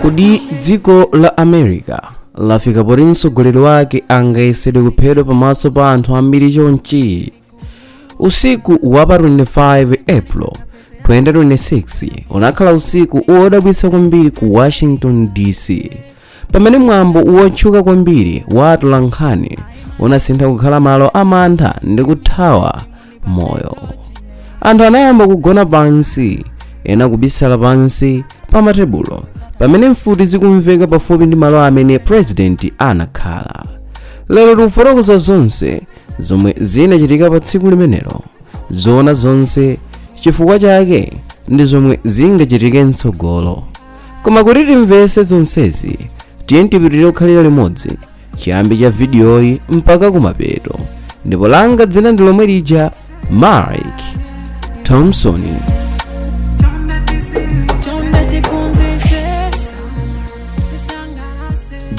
kodi dziko la america lafika poti mtsogoleri wake angayesedwe kuphedwa pamaso pa anthu ambiri chonchi usiku wa pa 25 april 2026 unakhala usiku wodabwitsa kwambiri ku washington dc pamene mwambo wotchuka kwambiri wa atolankhani unasintha kukhala malo amantha ndi kuthawa moyo anthu anayamba kugona pansi ena kubisala pansi pa matebulo pamene mfuti zikumveka pafupi ndi malo amene purezidenti anakhala lero tikufotokoza zonse zomwe zinachitika pa tsiku limenelo zoona zonse chifukwa chake ndi zomwe zingachitike mtsogolo koma kuti timvese zonsezi tiye tipitirire kukhalira limodzi chiyambi cha vidiyoyi mpaka kumapeto ndipo langa dzina ndi lomwe lija mike thompson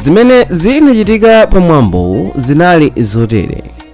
zimene zinachitika pa mwambowu zinali zotere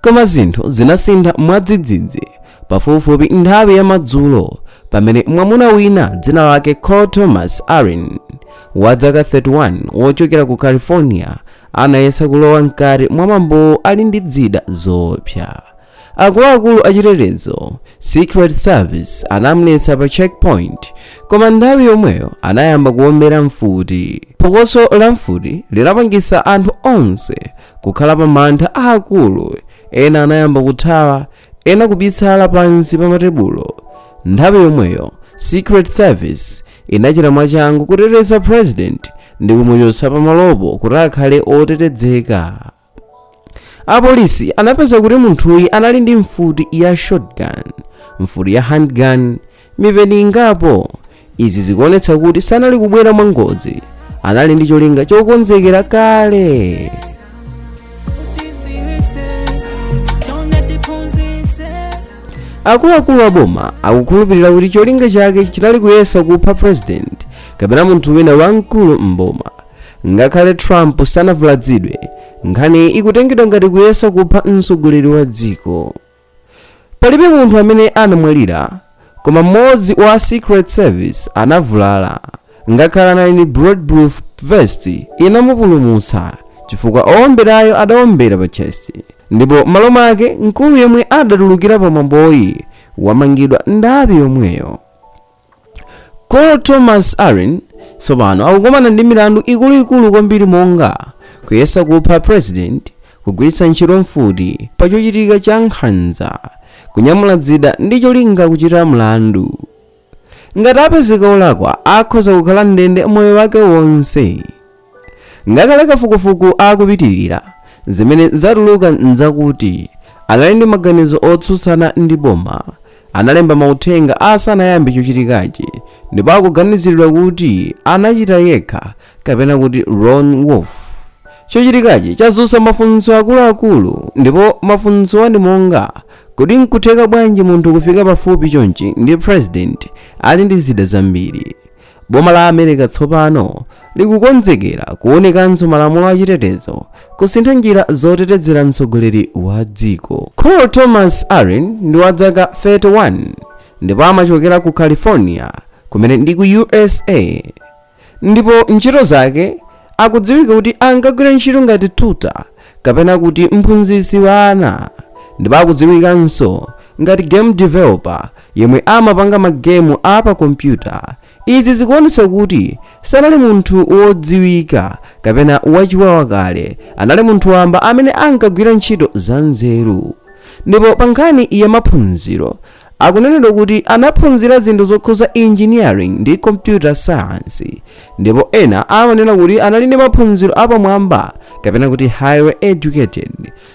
koma zinthu zinasintha mwadzidzidzi pafupifupi nthawi ya madzulo pamene mwamuna wina dzina lake cole thomas allen wa dzaka 31 wochokera ku california anayesa kulowa mkati mwa mwambowo ali ndi dzida zoopsa akuluakulu achitetezo secret service anamuletsa pa checkpoint koma nthawi yomweyo anayamba kuombera mfuti phokoso la mfuti linapangisa anthu onse Kukhala pa mantha aakulu, ena anayamba kuthawa, ena kubisala pansi pa matebulo. Nthawi yomweyo, Secret Service inachita mwachangu kuteteza president ndi kumuchotsa pamalopo kuti akhale otetedzeka. Apolisi anapeza kuti munthuyi anali ndi mfuti ya shotgun, mfuti ya handgun, mipeni ingapo. Izi zikuonetsa kuti sanali kubwera mwangozi, anali ndi cholinga chokonzekera kale. Akuluakulu a boma akukhulupirira kuti cholinga chake chinali kuyesa kupha president kapena munthu wina wamkulu m'boma. Ngakhale Trump sanavuladzidwe, nkhaniyi ikutengedwa ngati kuyesa kupha mtsogoleri wa dziko. Palibe munthu amene anamwalira, koma mmodzi wa Secret Service anavulala. Ngakhale anali ndi bulletproof vest inamupulumutsa chifukwa owomberayo adawombera pa chest. Ndipo m'malo mwake mkulu yemwe adatulukira pamwamboyi wamangidwa nthawi yomweyo. Cole Thomas Allen tsopano akukumana ndi milandu ikuluikulu kwambiri monga kuyesa kupha president kugwiritsa ntchito mfuti pa chochitika cha nkhanza kunyamula dzida ndi cholinga kuchita mlandu ngati apezeka olakwa akhoza kukhala m'ndende moyo wake wonse Ngakhale kafukufuku akupitilira, zimene zatuluka nzakuti anali ndi maganizo otsutsana ndi boma, analemba mauthenga asanayambe chochitikachi ndipo akuganiziridwa kuti anachita yekha kapena kuti lone wolf. Chochitikachi chazutsa mafunso akuluakulu ndipo mafunsowa ndi monga, kodi nkutheka bwanji munthu kufika pafupi chonchi ndi president ali ndi zida zambiri? Boma la America tsopano likukonzekera kuonekanso malamulo achitetezo kusintha njira zotetezera mtsogoleri wa dziko. Cole Thomas Allen ndi wa dzaka 31 ndipo amachokera ku California kumene ndi ku USA ndipo ntchito zake akudziwika kuti ankagwira ntchito ngati tutor kapena kuti mphunzitsi wa ana ndipo akudziwikanso ngati game developer yemwe amapanga magemu a pa kompyuta izi zikuonetsa kuti sanali munthu wodziwika kapena wachiwawa kale anali munthu wamba amene ankagwira ntchito za nzeru ndipo pa nkhani ya maphunziro Akunenedwa kuti anaphunzira zinthu zokhudza engineering ndi computer science, ndipo ena amanena kuti anali ndi maphunziro apamwamba kapena kuti highly educated.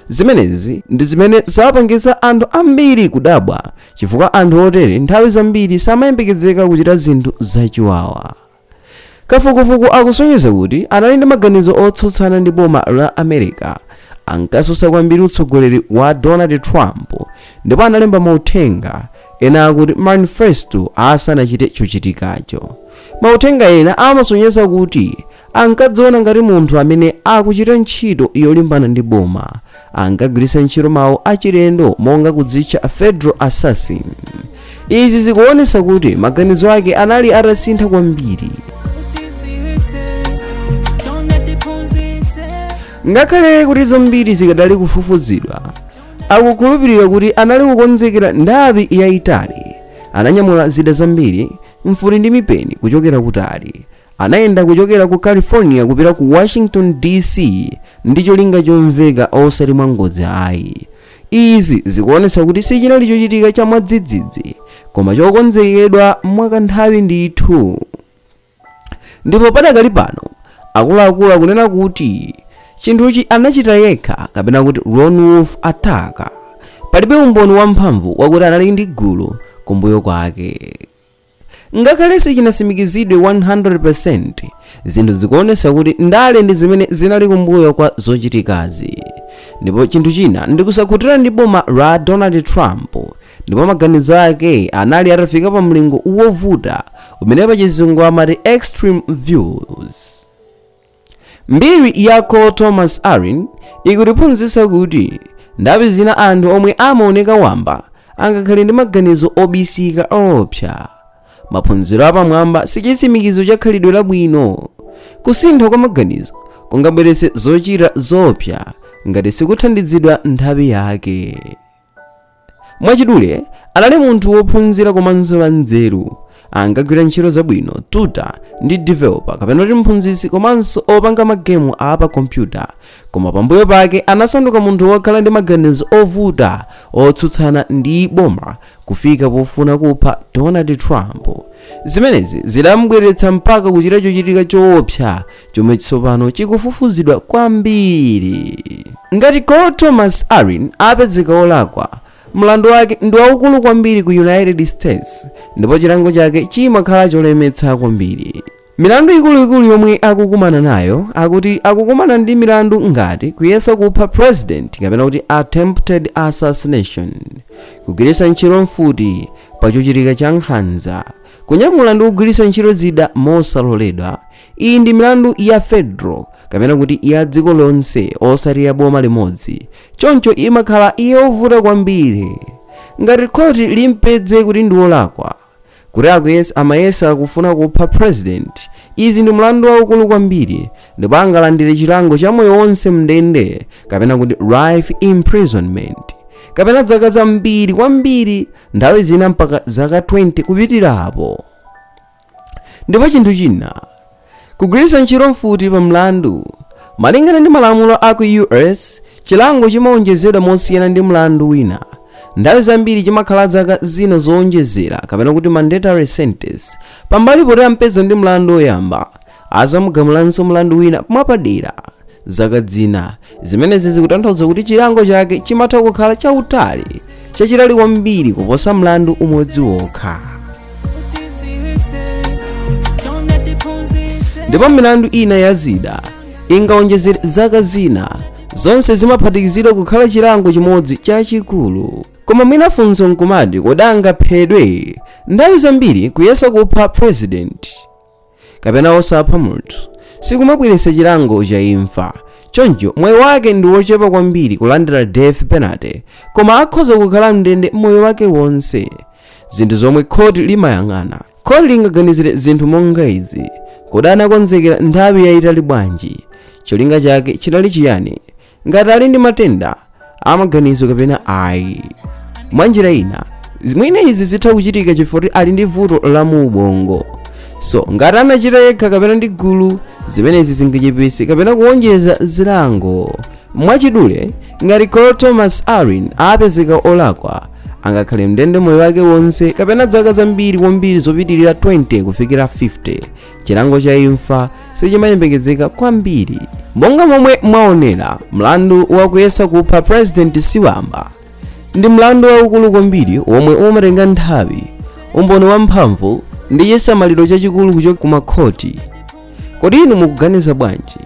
Zimenezi ndi zimene zapangitsa anthu ambiri kudabwa chifukwa anthu otere nthawi zambiri samayembekezeka kuchita zinthu zachiwawa. Kafukufuku akusonyeza kuti anali ndi maganizo otsutsana ndi boma la America, ankatsutsa kwambiri utsogoleri wa Donald Trump, ndipo analemba mauthenga ena akuti manifesto asanachite chochitikacho. Mauthenga ena amasonyeza kuti ankadziona ngati munthu amene akuchita ntchito yolimbana ndi boma ankagwiritsa ntchito mawu achilendo monga kudzitcha federal assassin izi zikuonetsa kuti maganizo ake anali atasintha kwambiri ngakhale kuti zambiri zikadali kufufuzidwa akukhulupirira kuti anali kukonzekera nthawi yayitali ananyamula zida zambiri mfuti ndi mipeni kuchokera kutali Anayenda kuchokera ku California kupita ku Washington DC ndi cholinga chomveka osati mwangodzi ayi. Izi zikuonetsa kuti sichinali chochitika cha mwadzidzidzi koma chokonzekedwa mwakanthawi ndithu. Ndipo padakali pano akuluakulu akunena kuti chinthuchi anachita yekha kapena kuti lone wolf attack. Palibe umboni wamphamvu wakuti anali ndi gulu kumbuyo kwake. ngakhale sichinasimikizidwe 100% zinthu zikuonesa kuti ndale ndi zimene zinali kumbuyo kwa zochitikazi ndipo chinthu china ndikusakhutira ndi boma la donald trump ndipo maganizo ake anali atafika pa mlingo wovuta umene pachizungu amati extreme views Mbiri ya Cole Thomas Allen ikutiphunzitsa kuti nthawi zina anthu omwe amaoneka wamba angakhale ndi maganizo obisika oopsa. Maphunziro apamwamba si chitsimikizo cha khalidwe labwino. Kusintha kwa maganizo kungabweretse zochita zoopsa ngati sikuthandizidwa nthawi yake. Mwachidule, anali munthu wophunzira komanso wanzeru. Ankagwira ntchito zabwino, tutor ndi developer kapena kuti mphunzitsi komanso opanga magemu a pa kompyuta. Koma pambuyo pake anasanduka munthu wokhala ndi maganizo ovuta otsutsana ndi boma kufika pofuna kupha Donald Trump. Zimenezi zidamubweretsa mpaka kuchita chochitika choopsa chomwe tsopano chikufufuzidwa kwambiri ngati cole thomas allen apezeka olakwa mlandu wake ndi waukulu kwambiri ku united states ndipo chilango chake chimakhala cholemetsa kwambiri milandu ikuluikulu yomwe akukumana nayo akuti akukumana ndi milandu ngati kuyesa kupha president kapena kuti attempted assassination kugwiritsa ntchito mfuti pa chochitika cha nkhanza kunyamula ndi kugwiritsa ntchito zida mosaloledwa iyi ndi milandu ya federal kapena kuti ya dziko lonse osati ya boma limodzi choncho imakhala yovuta kwambiri ngati khoti limpedze kuti ndi wolakwa kuti akuyesa amayesa kufuna kupha president izi ndi mlandu waukulu kwambiri ndipo angalandire chilango cha moyo wonse mndende kapena kuti life imprisonment kapena zaka zambiri kwambiri nthawi zina mpaka zaka 20 kupitirapo Ndipo chinthu china, kugwiritsa ntchito mfuti pa mlandu, malingana ndi malamulo a ku U.S. chilango chimawonjezedwa mosiyana ndi mlandu wina. Nthawi zambiri chimakhala zaka zina zowonjezera kapena kuti mandatory sentence pambali poti ampeza ndi mlandu woyamba Azamugamulanso mlandu wina mwapadera zaka zina. Zimenezi zikutanthauza kuti chilango chake chimatha kukhala chautali chachitali kwambiri kuposa mlandu umodzi wokha. Ndipo milandu ina ya zida ingawonjezere zaka zina. Zonse zimaphatikizidwa kukhala chilango chimodzi chachikulu. Koma mwina funso nkumati kodi angaphedwe? Nthawi zambiri kuyesa kupha president kapena osapha munthu sikumabweretsa chilango cha imfa choncho mwayi wake ndi wochepa kwambiri kulandira death penalty koma akhoza kukhala mndende moyo wake wonse zinthu zomwe khoti limayang'ana khoti lingaganizire zinthu monga izi kodi anakonzekera nthawi yayitali bwanji cholinga chake chinali chiyani ngati ali ndi matenda amaganizo kapena ayi mwa njira ina mwina izi zitha kuchitika chifukwa kuti ali ndi vuto la mu ubongo so ngati anachita yekha kapena ndi gulu zimenezi zingachepese kapena kuwonjeza zilango mwachidule ngati Cole Thomas Allen apezeka olakwa angakhale mndende moyo wake wonse kapena zaka zambiri kwambiri zopitirira 20 kufikira 50 chilango cha imfa sichimayembekezeka kwambiri monga momwe mwaonera mlandu wakuyesa kupha president siwamba ndi mlandu waukulu kwambiri womwe umatenga nthawi umboni wamphamvu ndi chisamaliro chachikulu kuchoka ku makhoti kodi inu mukuganiza bwanji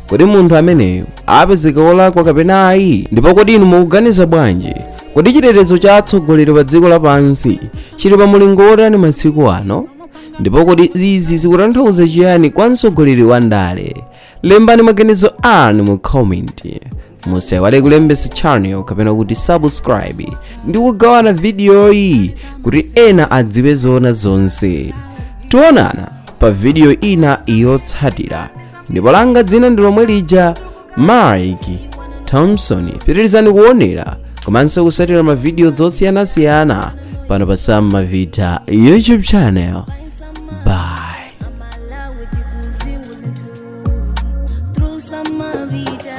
kodi munthu ameneyo apezeka wolakwa kapena ayi ndipo kodi inu mukuganiza bwanji kodi chitetezo cha atsogoleri pa dziko lapansi chili pa mulingo wotani masiku ano ndipo kodi izi zikutanthauza chiyani kwa mtsogoleri wa ndale lembani maganizo anu mu comment musaiwale kulembetsa channel kapena kuti subscribe ndi kugawana vidiyoyi kuti ena adziwe zoona zonse tionana pa vidiyo ina yotsatira ndipo langa dzina ndi lomwe lija mike thompson pitirizani kuonera komanso kusatira mavidiyo zosiyanasiyana pano pa sam mavita youtube channel bye amalawi tikuziwa zinthu through samavita